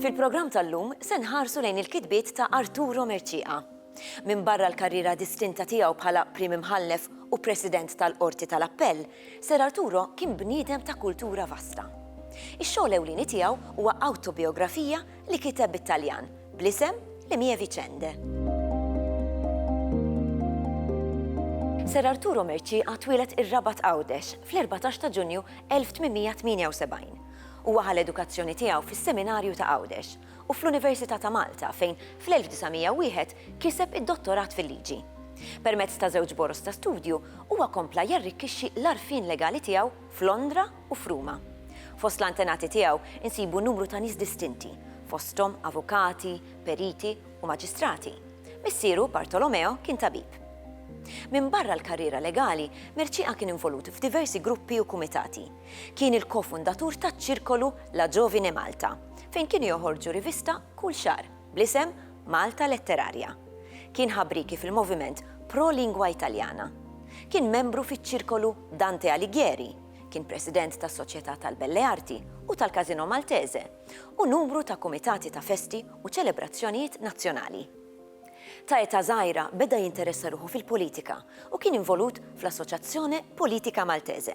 Fil-programm tal-lum se nħarsu lejn il-kitbiet ta' Arturo Merċieqa. Minn barra l-karriera distinta tiegħu bħala Prim Imħallef u President tal-Qorti tal-Appell, Ser Arturo kien bniedem ta' kultura vasta. Ix-xogħol ewlieni tiegħu huwa awtobiografija li kiteb bit-Taljan, bl-isem Le mie vicende. Ser Arturo Mercieqa twieled ir-Rabat Għawdex fl-14 ta' Ġunju 1878. Huwa ħa l-edukazzjoni tiegħu fis-Seminarju ta' Għawdex u fl-Università ta' Malta fejn fl-1901 kiseb id-Dottorat fil-Liġi. Permezz ta' żewġ boroż ta' studju huwa kompla jarrikkixxi l-għarfien legali tiegħu f'Londra u f'Ruma. Fost l-antenati tiegħu nsibu numru ta' nies distinti, fosthom avukati, periti u maġistrati. Missieru, Bartolomeo, kien tabib. Minbarra l-karriera legali, Mercieca kien involut f'diversi gruppi u kumitati. Kien il-ko-fundatur taċ-ċirkolu La Giovine Malta, fejn kienu joħorġu rivista kull xahar bl-isem Malta Letteraria. Kien ħabrieki fil-moviment pro-lingua Italjana. Kien membru fiċ-ċirkolu Dante Alighieri. Kien President tas-Soċjetà tal-Belle Arti u tal-Casino Maltese u numru ta' kumitati ta' festi u ċelebrazzjonijiet nazzjonali. Ta' età żgħira beda jinteressa ruħu fil-politika u kien involut fl-Associazione Politica Maltese.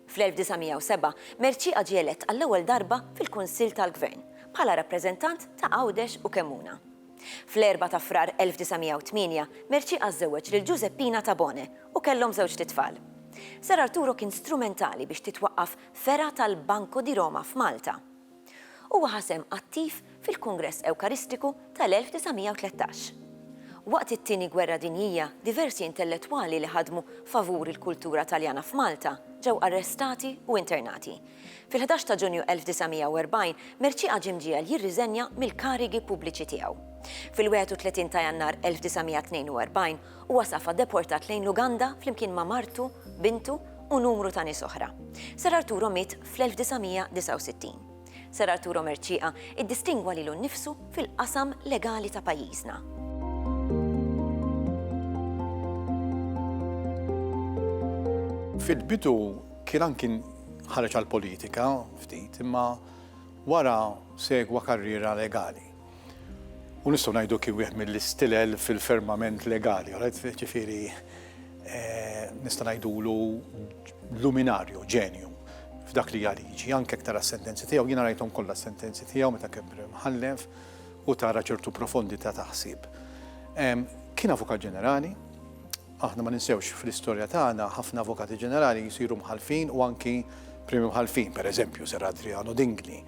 Fl-1907, Mercieqa ġie elett għall-ewwel darba fil-Kunsill tal-Gvern bħala rappreżentant ta' Għawdex u Kemmuna. Fl-Erbgħa ta' Frar 1908, Mercieca żżewweġ lil Ġużeppina Tabone u kellhom żewġt itfal. Sar Arturo kien strumentali biex titwaqqaf fergħa tal-Banco di Roma f'Malta. Huwa ħa sehem attiv fil-Kungress Ewkaristiku tal-1913. Waqt it-Tieni Gwerra Dinjija diversi intellettwali li ħadmu favur il-kultura Taljana f'Malta ġew arrestati u internati. Fil-ħdax ta' Ġunju 1940, Mercieca ġie mġiegħel jirriżenja mill-karigi pubbliċi tiegħu. Fil-31 ta' Jannar 1942, huwa safa deportat lejn l-Uganda flimkien ma' martu, bintu u numru ta' nies oħra. Sir Arturo miet fl-1969. Sir Arturo Mercieca iddistingwa lilu nnifsu fil-qasam legali ta' pajjiżna. Fil-bidu, Kien anki ħareġ għall-politika ftit imma wara segwa karriera legali. U nistgħu ngħidu kien wieħed mill-istilel fil-fermament legali, ġifieri nista' ngħidulu luminarju, ġenju f'dak li hija liġi, anke tara s-sentenzi tiegħu, jiena rajthom kollha s-sentenzi tiegħu meta kien mħallef u tara ċertu profondità ta' ħsieb. Kien Avukat Ġenerali, Aħna ma ninsewx, fl-istorja tagħna ħafna Avukati Ġenerali jsiru Mħallfin u anki Primi Mħallfin, per eżempju, Sir Adriano Dingli,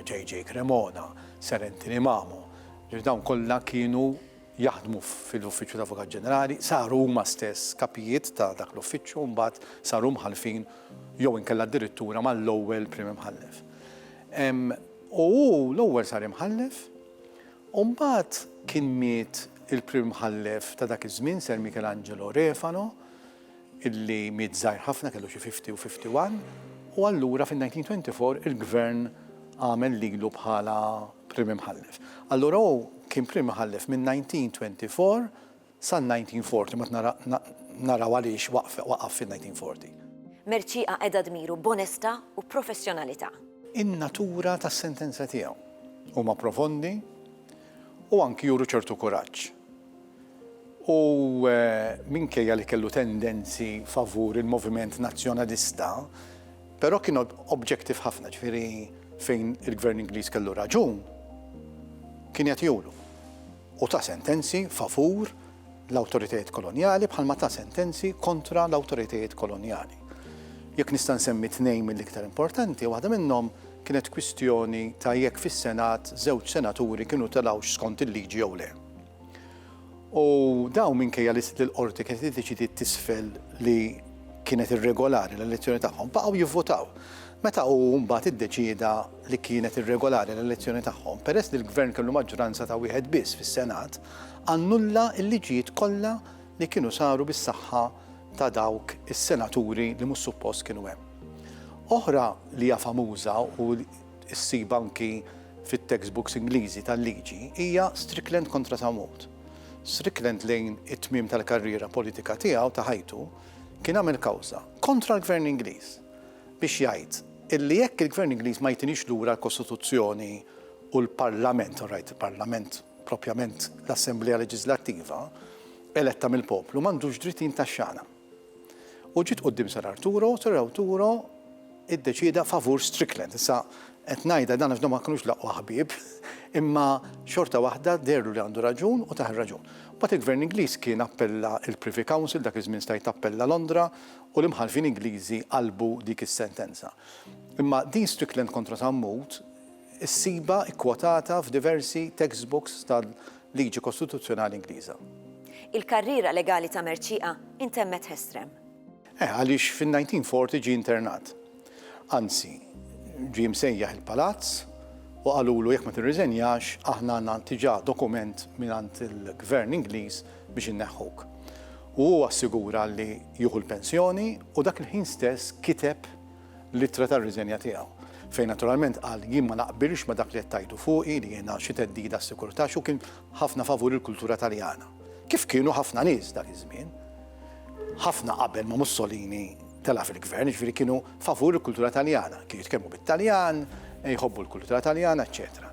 JJ Cremona, Sir Anthony Mamo, ġifieri dawn kollha kienu jaħdmu fil-Uffiċċju ta' Avukat Ġenerali, saru huma stess kapijiet ta' dak l-uffiċċju u mbagħad saru Mħallfin jew inkella addirittura mal-ewwel Primi Mħallef. U hu l-ewwel sar Imħallef U mbagħad kien miet il-Prim Imħallef ta' dak iż-żmien Sir Michelangelo Refalo, illi miet żgħir ħafna kellu xi fifty u fifty one, u allura fin-1924 il-Gvern għamel lilu bħala Prim Imħallef. Allura hu kien Prim Imħallef min-1924 Sal-1940 ma naraw għaliex waqaf fin-1940. Mercieqa qeda dmiru b'onestà u professjonalità. In-natura tas-sentenza tiegħu huma profondi u anki juru ċertu kuraġġ. U minkejja li kellu tendenzi favur il-moviment nazzjonalista, però kien objective ħafna, ġifieri fejn il-Gvern Ingliż kellu raġun, kien jagħtihulu. u ta sentenzi favur l-awtoritajiet kolonjali bħalma ta sentenzi kontra l-awtoritajiet kolonjali. Jekk nista' nsemmi tnejn mill-iktar importanti, waħda minnhom kienet kwistjoni ta' jekk fis-Senat żewġ senaturi kienu telgħux skont il-liġi jew le. U dawn minkejja li l-qorti kienet iddeċidiet t'isfel li kienet irregolari l-elezzjoni tagħhom, baqgħu jivvotaw. Meta hu mbagħad iddeċieda li kienet irregolari l-elezzjoni tagħhom, peress li l-Gvern kellu maġġoranza ta' wieħed biss fis-Senat, annulla l-liġijiet kollha li kienu saru bis-saħħa ta' dawk is-senaturi li mhux suppost kienu hemm. Oħra li hija famuża u ssib anki fit-textbooks Ingliżi tal-liġi hija Strickland kontra Sam Wood. Strickland lejn it-tmiem tal-karriera politika tiegħu ta' ħajtu kien għamel kawża kontra l-Gvern Ingliż biex jgħid illi jekk il-Gvern Ingliż ma jtinix lura l-Kostituzzjoni u l-Parlament, u rajt il-Parlament propjament l-Assemblea Leġiżlattiva, eletta mill-poplu, m'għandux dritt jintaxxana. U ġiet quddiem Sir Arturo, Sir Arturo iddeċieda favur Strickland. Issa qed ngħidha dan għax ma kinux laqwa ħbieb, imma xorta waħda derlu li għandu raġun u taħ raġun Bat il-Gvern Ingliż kien appella il-Privy Council, dak iż-żmien stajt appella Londra, u l-imħallfin Ingliżi qalbu dik is-sentenza. Imma din Strickland kontra Sammut issibha kkwotata f'diversi textbooks tal-liġi kostituzzjonali Ingliża. Il-karriera legali ta' Mercieqa intemmet Hestrem. Eh, għaliex fin-1940 ġie internat. Anzi, ġie msejjaħ il-palazz u qalulu jekk ma tirriżenjax aħna għandna diġà dokument mingħand il-Gvern Ingliż biex inneħħuk. U hu assigura li jieħu l-pensjoni u dak il-ħin stess kiteb l-ittra tar-riżenja tiegħu, fejn naturalment qal jien ma naqbilx ma' dak li qed tgħidu fuqi li jiena xi theddida għas-sikurtà għax hu kien ħafna favur il-kultura Taljana. Kif kienu ħafna nies dak iż-żmien. Ħafna qabel ma' Mussolini telgħa fil-gvern, jiġifieri kienu favur il-kultura Taljana, kienu jitkellmu bit-Taljan, jħobbu l-kultura Taljana, eċċetera.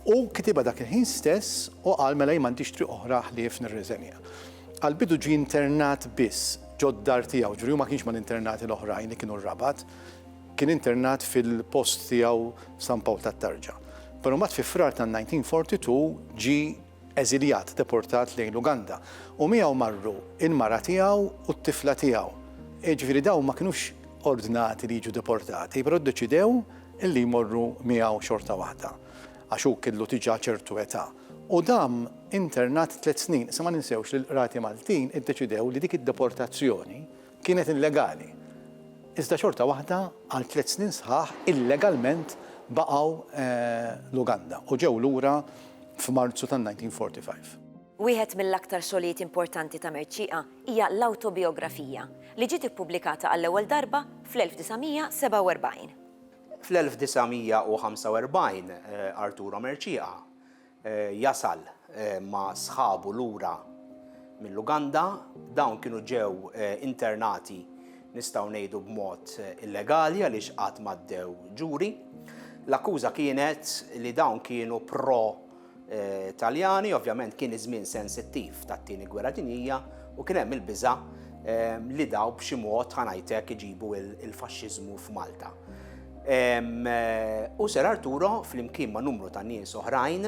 U kitiba dak il-ħin stess u qal mela jien m'għandix triq oħra ħlief nirriżenja. Għal-bidu ġie internat biss ġod-dar tiegħu, ġifieri hu ma kienx mal-internati l-oħrajn li kienu r-Rabat, kien internat fil-post tiegħu San Pawl tat-Tarġa. Però mbagħad fi Frar tan-1942 ġie eżiljat, deportat lejn l-Uganda, u miegħu marru l-mara tiegħu u t-tifla tiegħu. Jiġifieri dawn ma kinux ordnati li jiġu deportati, però ddeċidew li jmorru miegħu xorta waħda, għax hu kellu diġà ċertu età. U dam internat tliet snin. Issa ma ninsewx li l-qrati Maltin iddeċidew li dik id-deportazzjoni Kienet illegali, iżda xorta waħda għal tliet snin sħaħ illegalment baqgħu l-Uganda u ġew lura f'Marzu tan-1945. Wieħed mill-aktar xogħlijiet importanti ta' Mercieqa hija l-awtobiografija, li ġiet ippubblikata għall-ewwel darba fl-1947. Fl-1945, Arturo Mercieqa jasal ma' sħabu lura mill-Uganda. Dawn kienu ġew internati nistgħu ngħidu b'mod illegali għaliex qatt m'għaddew ġuri. L-akkuża kienet li dawn kienu pro Taljani, ovvjament kien iż-żmien sensittiv tat-Tieni Gwerra Dinjija u kien hemm il-biża' li dawn b'xi mod ħa ngħid hekk iġibu l-faxxiżmu f'Malta. U Ser Arturo flimkien ma' numru ta' nies oħrajn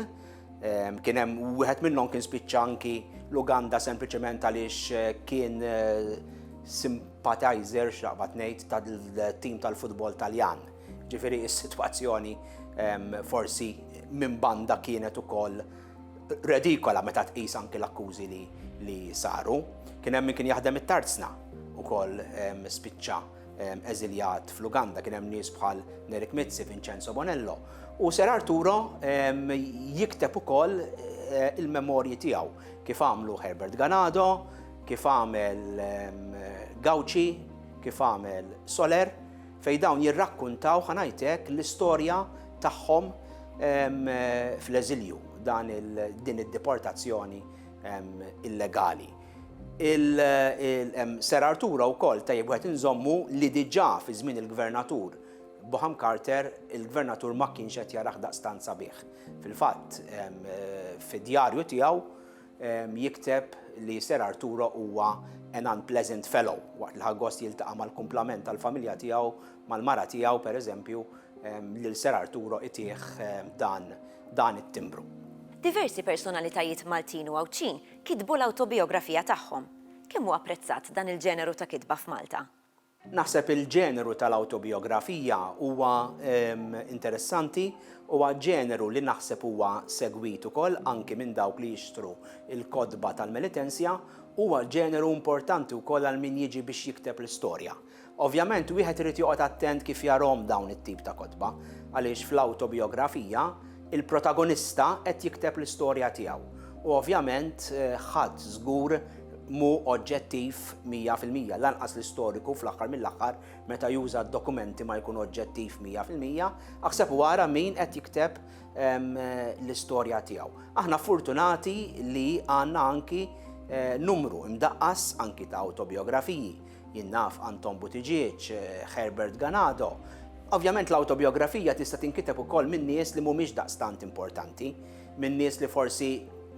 kien hemm wieħed minnhom kien spiċċa anki l-Uganda sempliċement għaliex eh, kien eh, sympathizer xaqbad ngħid tal-tim tal-futbol Taljan. Ġifieri s-sitwazzjoni forsi minn banda kienet ukoll redikola meta tqis anki l-akkużi li saru. Kien hemm min kien jaħdem it-tarzna ukoll spiċċa eżiljat fl-Uganda kien hemm nies bħal Nerik Mizzi, Vincenzo Bonello, u Ser Arturo jikteb ukoll eh, il-memorji tiegħu kif għamlu Herbert Ganado, kif għamel Gauci, kif għamel Soler, fej dawn jirrakkuntaw ħanajtek l-istorja tagħhom fl-eżilju dan din id-deportazzjoni illegali. Ser Arturo wkoll tajjeb wieħed inżommu li diġà fi żmien il-Gvernatur Boham Carter il-Gvernatur ma kienx qed jarah daqstant sabiħ. Fil-fatt fid-djarju tiegħu jikteb li Ser Arturo huwa an unpleasant fellow waqt li ħa gost jiltaqa' mal-kumplament tal-familja tiegħu mal-mara tiegħu pereżempju lil Ser Arturo itih dan it-timbru. Diversi personalitajiet Maltin u Għawdxin kitbu l-awtobijografija tagħhom. Kemm hu apprezzat dan il-ġeneru ta' kitba f'Malta? Naħseb il-ġeneru tal-awtobijografija huwa interessanti, huwa ġeneru li naħseb huwa segwit ukoll anki minn dawk li jixtru l-kotba tal-Melitensia, huwa ġeneru importanti wkoll għal min jiġi biex jikteb l-istorja. Ovvjament wieħed irid joqgħod attent kif jarahom dawn it-tip ta' kotba, għaliex fl-awtobijografija, il-protagonista qed jikteb l-istorja tiegħu, u ovvjament ħadd żgur mhu oġġettiv mija fil-mija, lanqas l-istoriku fl-aħħar mill-aħħar meta juża d-dokumenti ma jkun oġġettiv mija fil-mija, aħseb u ara min qed jikteb l-istorja tiegħu. Aħna fortunati li għandna anki numru imdaqqas anki ta' awtobijografiji, Jien naf Anton Buttigieg, Herbert Ganado. Ovvjament l-awtobiografija tista' tinkiteb ukoll minn nies li mhumiex daqstant importanti, minn nies li forsi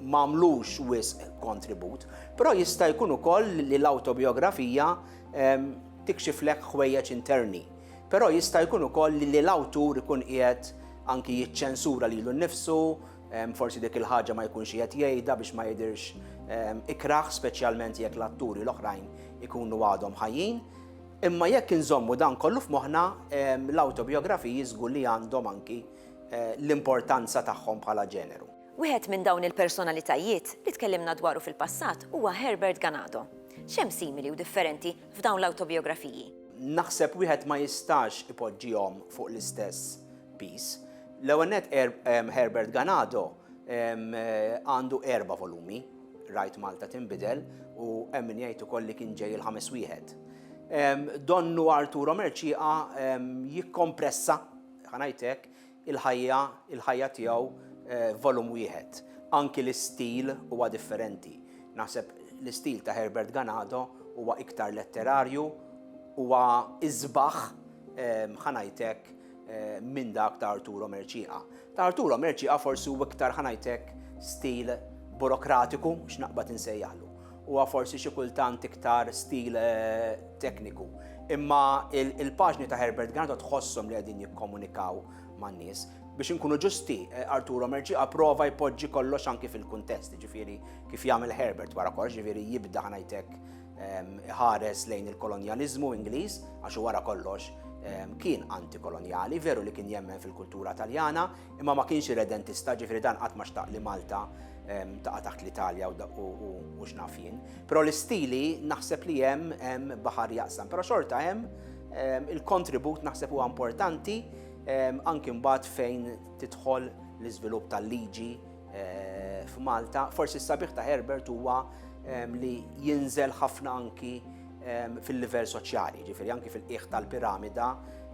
m'għamlux wisq kontribut, però jista' jkun ukoll li l-awtobiografija ehm, tikxiflek ħwejjeġ interni. Però jista' jkun ukoll li l-awtur ikun qiegħed anki jiċċensura lilu nnifsu, Forsi dik il-ħaġa ma jkunx qed jgħidha biex ma jidhirx ikrah, speċjalment jekk l-atturi l-oħrajn ikunu għadhom ħajjin. Imma jekk inżommu dan kollu f'moħħna, l-awtobijografiji żgur li għandhom anki eh, l-importanza tagħhom bħala ġeneru. Wieħed minn dawn il-personalitajiet li tkellimna dwaru fil-passat huwa Herbert Ganado. Xem simili u differenti f'dawn l-awtobijografiji? Naħseb wieħed ma jistax ipoġġihom fuq l-istess Peace. L-ewwel nett Herbert Ganado għandu erba' volumi, Rajt Malta Tinbidel u hemm min jgħid ukoll li kien ġej il-ħames wieħed. Donnu Arturo Mercieqa jikkompressa, ħa ngħid hekk, il-ħajja il-ħajja tiegħu f'volum wieħed. Anki l-istil huwa differenti. Naħseb l-istil ta' Herbert Ganado huwa iktar letterarju, huwa isbaħ, ħa ngħid hekk, eh, minn dak ta' Arturo Merċiqa. Ta' Arturo Merċiqa forsi u iktar ħanajtek stil burokratiku x'naqbad insejjaħlu. Huwa forsi xi kultant iktar stil eh, tekniku. Imma il-paġni ta' Herbert Granato tħossom li qegħdin jikkomunikaw man-nies. Biex inkunu ġusti, eh, Arturo Merċi approva jpoġġi kollox anki fil-kuntest, ġifiri kif jagħmel Herbert wara kollox, ġifiri jibda ħanajtek ħares lejn il-kolonjaliżmu Ingliż, għax wara kollox kien antikolonjali, veru li kien jemmen fil-kultura taljana, imma ma kienx redentista ġifri dan qatt ma xtaq li Malta taqa' taħt l-Italja u x'naf jien. Però l-istili naħseb li hemm baħar jaqsam, però xorta hemm il-kontribut naħseb huwa importanti anki mbagħad fejn tidħol l-iżvilupp tal-liġi f'Malta. Forsi s-sabiħ ta' Herbert huwa ehm, li jinżel ħafna anki ehm, fil-livell soċjali, ġifieri anki fil-qiegħ tal-piramida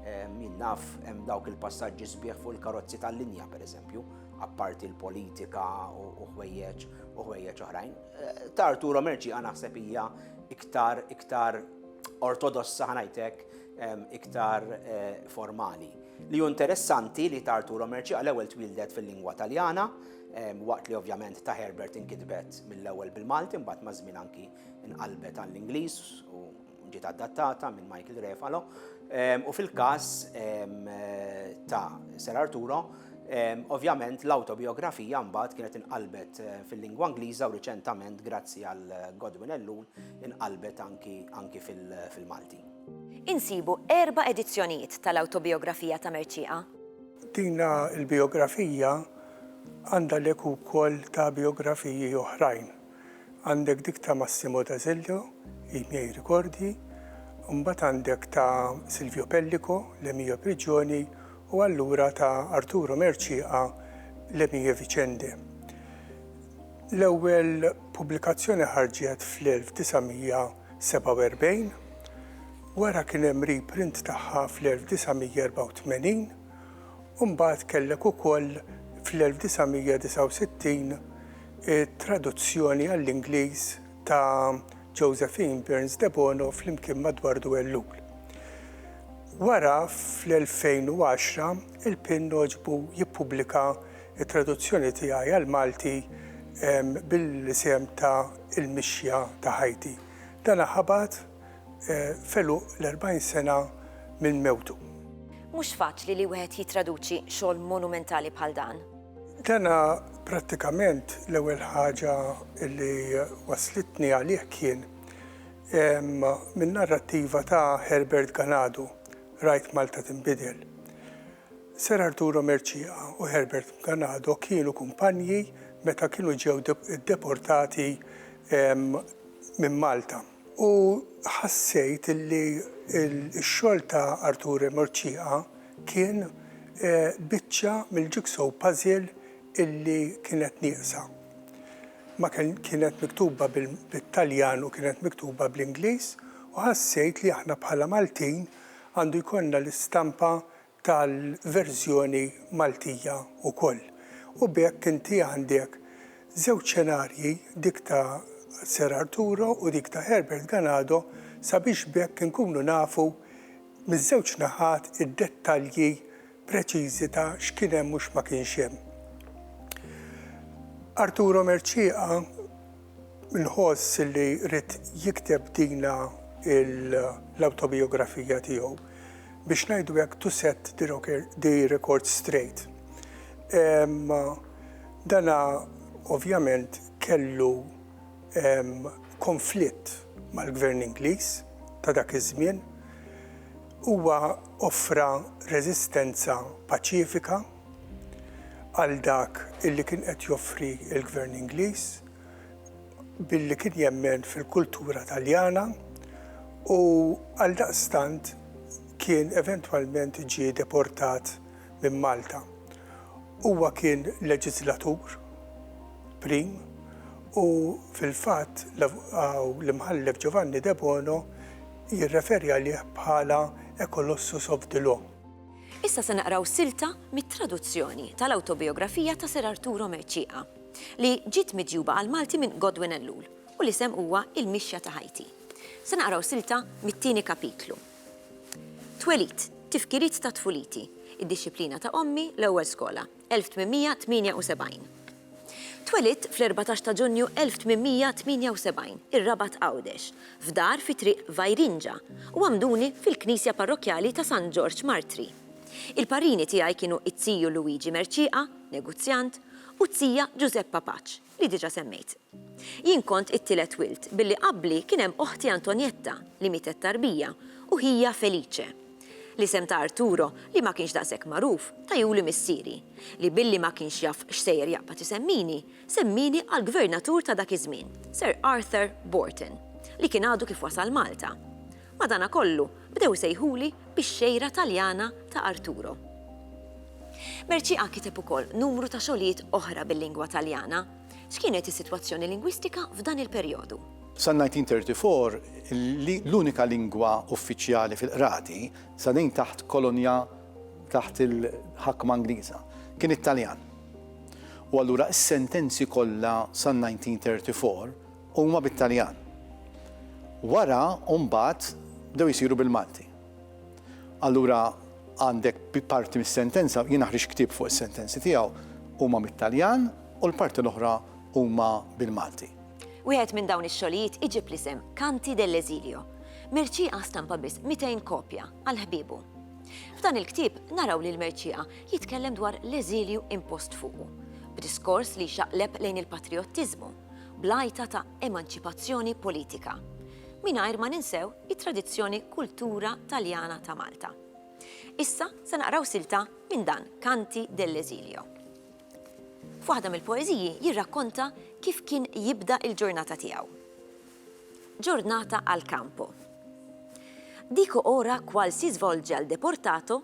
ehm, min naf hemm dawk il-passaġġi sbieħ fuq il-karozzi tal-linja pereżempju, apparti l-politika u ħwejjeġ u ħwejjeġ oħrajn. Eh, Tartu Romerċi għana naħseb hija iktar iktar ortodossa ħanajtek iktar eh, formali. Li hu interessanti li ta' Arturo Mercieca l-ewwel twieldet fil-lingwa Taljana, waqt li ovvjament ta' Herbert inkitbet mill-ewwel bil-Malti imbagħad maż-żmien anki nqalbet għall-Ingliż u ġiet adattata minn Michael Refalo, u fil-każ ta' Sir Arturo ovvjament l-awtobijografija mbagħad kienet inqalbet fil-lingwa Ingliża u riċentament grazzi għal Godwin Ellul inqalbet anki fil-Malti. Insibu erba' edizzjonijiet tal-awtobijografija ta' Mercieqa. Din il-bijografija għandha lek ukoll ta' bijografiji oħrajn. Għandek dik ta' Massimo D'Azeglio, I miei ricordi, u mbagħad għandek ta' Silvio Pellico, Le mie prigioni, u allura ta' Arturo Mercieqa, Le mie vicende. L-ewwel pubblikazzjoni ħarġet fl-1900. 1947, wara kien hemm reprint tagħha fl-1984 u mbagħad kellek ukoll fl-1969 it-traduzzjoni għall-Ingliż ta' Josephine Burns Debono flimkien ma' Dwardu Ellul. Wara fl-2010 il-Pinn għoġbu jippubblika It-traduzzjoni tiegħi għall-Malti bil-isem ta' Il-Mixja ta' Ħajti. Dana ħabat f'għeluq l-40 sena minn mewtu. Mhux faċli li wieħed jittraduċi xogħol monumentali bħal dan. Dana prattikament l-ewwel ħaġa li wasslitni għalih kien min-narrattiva ta' Herbert Ganado, Rajt Malta Tinbidel. Sir Arturo Mercieca u Herbert Mganado kienu kumpanji meta kienu ġew deportati minn Malta. U ħassejt li x-xogħol ta' Arturo Mercieca kien biċċa mill-jigsaw puzzle illi kienet nieqsa. Ma kienet miktuba bit-Taljan u kienet miktuba bl-Ingliż u ħassejt li aħna bħala Maltin Għandu jkollna l-istampa tal-verżjoni Maltija wkoll. U b'hekk inti għandek żewġ xenarji, dik ta' Sir Arturo u dik ta' Herbert Ganado, sabiex b'hekk inkunu nafu miż-żewġ naħat id-dettalji preċiżi ta' x'kien hemm u x'ma kienx hemm. Arturo Mercieca nħoss li ried jikteb dina l-awtobijografija tiegħu biex ngħidu hekk to set the record straight. Dana ovvjament kellu konflitt mal-Gvern Ingliż ta' dak iż-żmien. Huwa offra reżistenza paċifika għal dak li kien qed joffri l-Gvern Ingliż billi kien jemmen fil-kultura Taljana u għaldaqstant kien eventwalment ġie deportat minn Malta. Huwa kien leġiżlatur prim u fil-fatt l-Imħallef Giovanni Debono jirreferi għalih bħala a colossus of the law. Issa se naqraw silta mit-traduzzjoni tal-awtobijografija ta' Sir Arturo Mercieca, li ġiet miġjuba għall-Malti minn Godwin Ellul u l-isem huwa Il-Mixja ta' Ħajti. Se naqraw silta mit-tieni kapitlu. Twelid, tifkiriet ta' tfuliti, id-dixxiplina ta' ommi, l-ewwel skola, 1878. Twelidt fl-erbatax ta' Ġunju 1878, ir-Rabat Għawdex, f'dar fi Triq Vajrinġa, u għamduni fil-Knisja Parrokkjali ta' San Ġorġ Martri. Il-parrini tiegħi kienu t-tiju Luigi Mercieqa, negozjant, u t-tija Ġużeppa Paċ. li diġà semmejt. Jien kont it-tielet wild, billi qabli kien hemm oħti Antonietta, li mietet tarbija, u ħija Felice. L-isem ta' Arturo, li ma kienx daqshekk magħruf, tajhuli missieri, li billi ma kienx jaf x'sejjer jaqbad isemmini, semmieni għall-Gvernatur ta' dak iż-żmien, Sir Arthur Borton, li kien għadu kif wasal Malta. Madanakollu, bdew isejħuli bix-xejra Taljana ta' Arturo. Mercieca kiteb ukoll numru ta' xogħlijiet oħra bil-lingwa Taljana. X'kienet is-sitwazzjoni lingwistika f'dan il-perjodu? Sal-1934, l-unika lingwa uffiċjali fil-qrati, sa dejn taħt kolonja taħt il-ħakma Ingliża, kien it-Taljan. U allura s-sentenzi kollha sal-1934, Huma bit-Taljan. Wara u mbagħad bdew isiru bil-Malti. Allura għandek parti mis-sentenza, jiena ħriġt ktieb fuq is-sentenzi tiegħu, huma mit-Taljan u l-parti l-oħra huma bil-Malti. Wieħed minn dawn ix-xogħlijiet iġib l-isem Canti dell'esilio. Mercieca stampa biss 200 kopja għal ħbiebu. F'dan il-ktieb naraw lil Mercieca jitkellem dwar l-eżilju impost fuqu, b'diskors li jxaqleb lejn il-patrijottiżmu. bl-għajta ta' emanċipazzjoni politika, mingħajr ma ninsew it-tradizzjoni kultura Taljana ta' Malta. Issa se naqraw silta minn dan Canti dell'esilio. F'waħda mill-poeżiji jirrakkonta kif kien jibda il-ġurnata tiegħu. Ġurnata għal kampo. Dico ora qual si svolge al deportato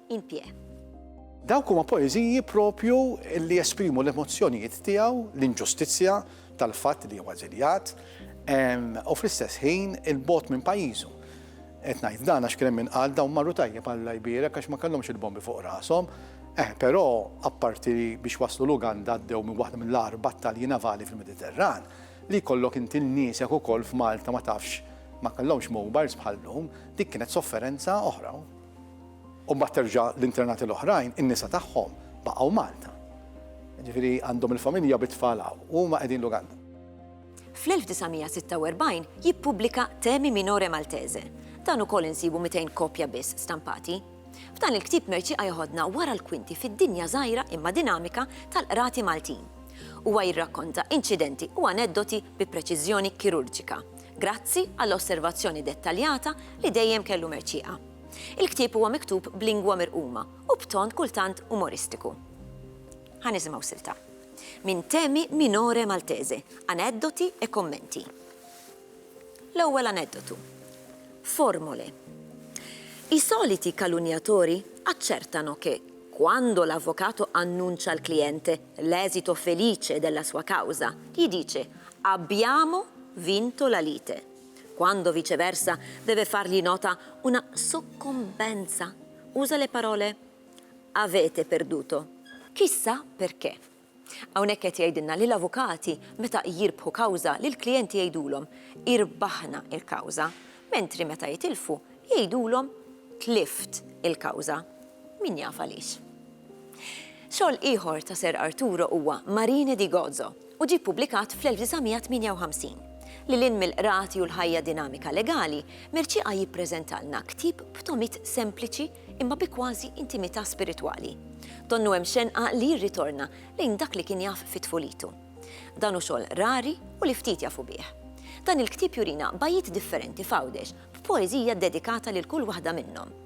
in pie. Dawk huma poeżiji proprju li jesprimu l-emozzjonijiet tiegħu, l-inġustizzja tal-fatt li huwa eżiljat, u fl-istess ħin il-bot minn pajjiżu. Qed ngħid dan għax kien hemm min qal dawn marru tajjeb Alla jbierek għax ma kellhomx il-bombi fuq rashom. Eh, però apparti biex waslu l-Uganda għaddew minn waħda mill-agħar battalji navali fil-Mediterran, li jkollok inti l-niesek ukoll f'Malta ma tafx ma kellhomx mobiles bħal lum, dik kienet sofferenza oħra. U mbagħad terġa' l-internati l-oħrajn, in-nisa tagħhom baqgħu Malta. Jiġifieri għandhom il-familja bit-tfal hawn u huma qegħdin l-Uganda. Fl-1946 jippubblika Temi Minore Maltese. Dan ukoll insibu 200 kopja biss stampati. F'dan il-ktieb Mercieqa jeħodna wara l-kwinti fid-dinja żgħira imma dinamika tal-qrati Maltin. Huwa jirrakkonta inċidenti u aneddoti bi preċiżjoni kirurġika. Grazzi għall-osservazzjoni dettaljata li dejjem kellu Mercieqa. Il-ktieb huwa miktub b'lingwa mirquma u b'ton kultant umoristiku. Ħa nisimgħu silta. Minn Temi Minore Maltese, Aneddoti e Commenti. L-ewwel aneddotu. Formole. I soliti calunniatori accertano che, quando l'avvocato annuncia al cliente, L'esito felice della sua causa, gli dice, Abbiamo vinto la lite. Quando viceversa deve fargli nota una soccombenza, usa le parole Avete perduto. Chissà perché. Hawnhekk qed jgħidilna li l-avukati meta jirbħu kawża lill-klijenti jgħidulhom irbaħna l-kawża, mentri meta jitilfu jgħidulhom tlift il-kawża. Min jaf għaliex? Xogħol ieħor ta' Ser Arturo huwa Marine di Gozo u ġie ppubblikat fl-1958. Lil hinn mill-qrati u l-ħajja dinamika legali, Mercieca jippreżentalna ktieb b'tomiet sempliċi imma bi kważi intimità spiritwali. Donnu hemm xenqa li jirritorna lejn dak li kien jaf fi tfulitu. Dan hu xogħol rari u li ftit jafu bih. Dan il-ktieb jurina bajjiet differenti f'Għawdex b'poeżija ddedikata lil kull waħda minnhom.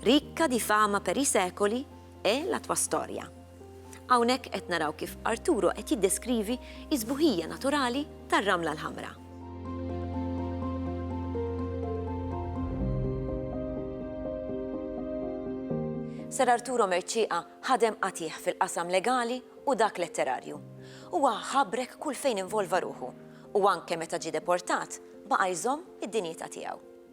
Ricca di fama per i secoli è la tua storia. Hawnhekk qed naraw kif Arturo qed jiddeskrivi s-sbuħija naturali tar-Ramla l-Ħamra. Ser Arturo Mercieqa ħadem qatigħ fil-qasam legali u dak letterarju. Huwa ħabrek kull fejn involva ruħu u anke meta ġie deportat baqa' jżomm id-dinjità tiegħu.